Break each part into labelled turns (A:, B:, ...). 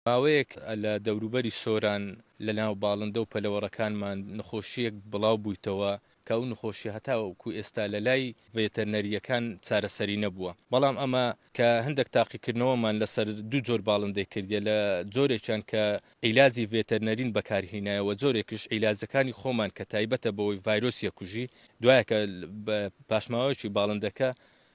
A: ماوەیەک لە دەوروبەری سۆران لە ناو باڵندە و پەلەوەڕەکانمان نەخۆشییەک بڵاو بوویتەوە کە ئەو نەخۆشییە هەتاوەکو ئێستا لە لای ڤێتەرنەرییەکان چارەسەری نەبووە بەڵام ئەمە کە هەندەک تاقیکردنەوەمان لەسەر دوو جۆر باڵندەی کردیە لە جۆرێکیان کە عیلاجی ڤێتەرنەرین بەکار هینایە وە جۆرێکیش عیلاجەکانی خۆمان کە تایبەتە بەوەی ڤایرۆسیە کوژی دوایە کە پاشماوەیەکی باڵندەکە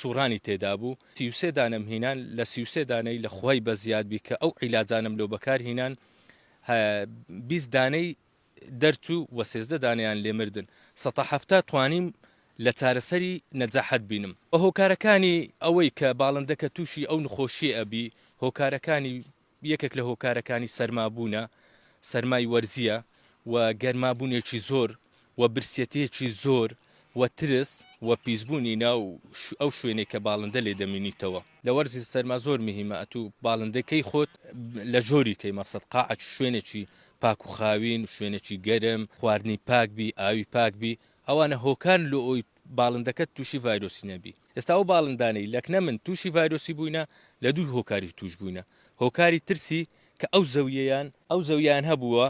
A: سوڕانی تێدا بوو سی و سێ دانەم هینان لە سی و سێ دانەی لە خوای بە زیاد بی کە ئەو عیلاجانەم لۆ بەکار هینان بیست دانەی دەرچوو وە سێزدە دانەیان لێ مردن سەتا حەفتا توانیم لە چارەسەری نەجاحەت بینم هۆکارەکانی ئەوەی کە باڵندەکە تووشی ئەو نخۆشیە ئەبی هۆکارەکانی یەکێک لە هۆکارەکانی سەرما بوونە سەرمای وەرزییە و گەرما بوونێکی زۆر و برسیەتێکی زۆر و ترس و پیسبوونی ناو ئەو شوێنەی کە باڵندە لێ دەمینیتەوە. لە وەرزی سەرما زۆر مهیمە ئەتوو باڵندە کەی خۆت لە ژۆری کەی مەقسەد قاعە شوێنێکی پاک و خاوین شوێنێکی گەرم خواردنی پاک بی ئاوی پاک بی ئەوانە هۆکارن لۆ ئەوی باڵندەکەت تووشی ڤایرۆسی نەبی ئێستا ئەو باڵندانەی لەکنە من تووشی ڤایرۆسی بووینە لە دوو هۆکاری تووش بووینە هۆکاری ترسی کە ئەو زەویەیان ئەو زەویەیان هەبووە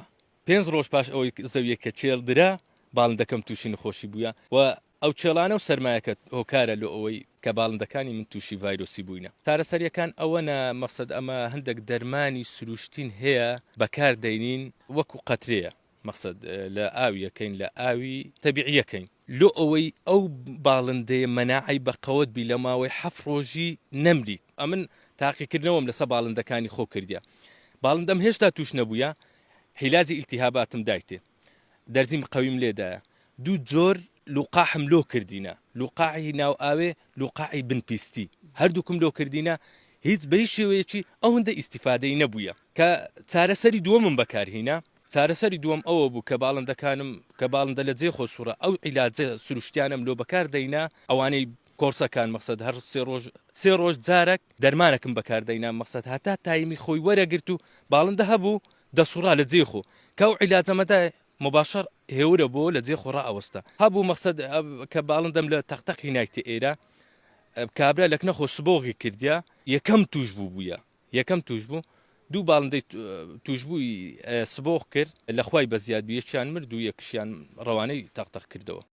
A: پێنج ڕۆژ پاش ئەوەی زەویە کە چێڵ درا باڵندەکەم تووشی نخۆشی بوویە و ئەو چێڵانە و سەرمایەکە هۆکارە لۆ ئەوەی کە باڵندەکانی من تووشی ڤایرۆسی بووینە چارەسەریەکان ئەوەنە مەقسەد ئەمە هەندەک دەرمانی سروشتین هەیە بەکار دەینین وەکو قەترەیە. مەقسەد لە ئاوی یەکەین لە ئاوی تەبیعی یەکەین. لۆ ئەوەی ئەو باڵندەیە مەناعەی بە قەوەت بی لە ماوەی حەفت ڕۆژی نەمری. ئەمن تاقیکردنەوەم لەسە باڵندەکانی خۆ کردیە باڵندەم هێشتا توش نەبویە حیلاجی ئیلتیهاباتم دایتێ دەرزیم قەویم لێ دایە دوو جۆر لوقاحم لۆ کردینە لوقاحی ناو ئاوێ لوقاحی بن پیستی هەردوکم لۆ کردینە هیچ بەهیچ شێوەیەکی ئەوندە ئیستیفادەی نەبویە کە چارەسەری دوەمم بەکار هینا چارەسەری دووەم ئەوە بوو کە باڵندەکانم کە باڵندە لە جێ خۆ سوڕا ئەو عیلاجە سروشتیانەم لۆ بەکار دەینا ئەوانەی کۆڕسەکان مەقسەد هەر سێ ڕۆژ سێ ڕۆژ جارەک دەرمانەکم بەکار دەینا مەقسەد هەتا تایمی خۆی وەرەگرت و باڵندە هەبوو دەسوڕا لە جێ خۆ کە ئەو عیلاجەمە دا مباشەر هێورە بۆ لە جێ خۆ ڕائەوەستا هەبوو مەقسەد کە باڵندەم لە تەق تەقی نایتێ ئێرە کابرا لەکنە خۆ سبۆغی کردیا یەکەم تووش بوو بوویە. یەکەم تووشبوو دوو باڵندەی تووشبووی سبۆخ کرد، لەخوای بەزیاد بوو، یەکیان مرد و یەکیشیان رەوانەی تەقتەق کردەوە.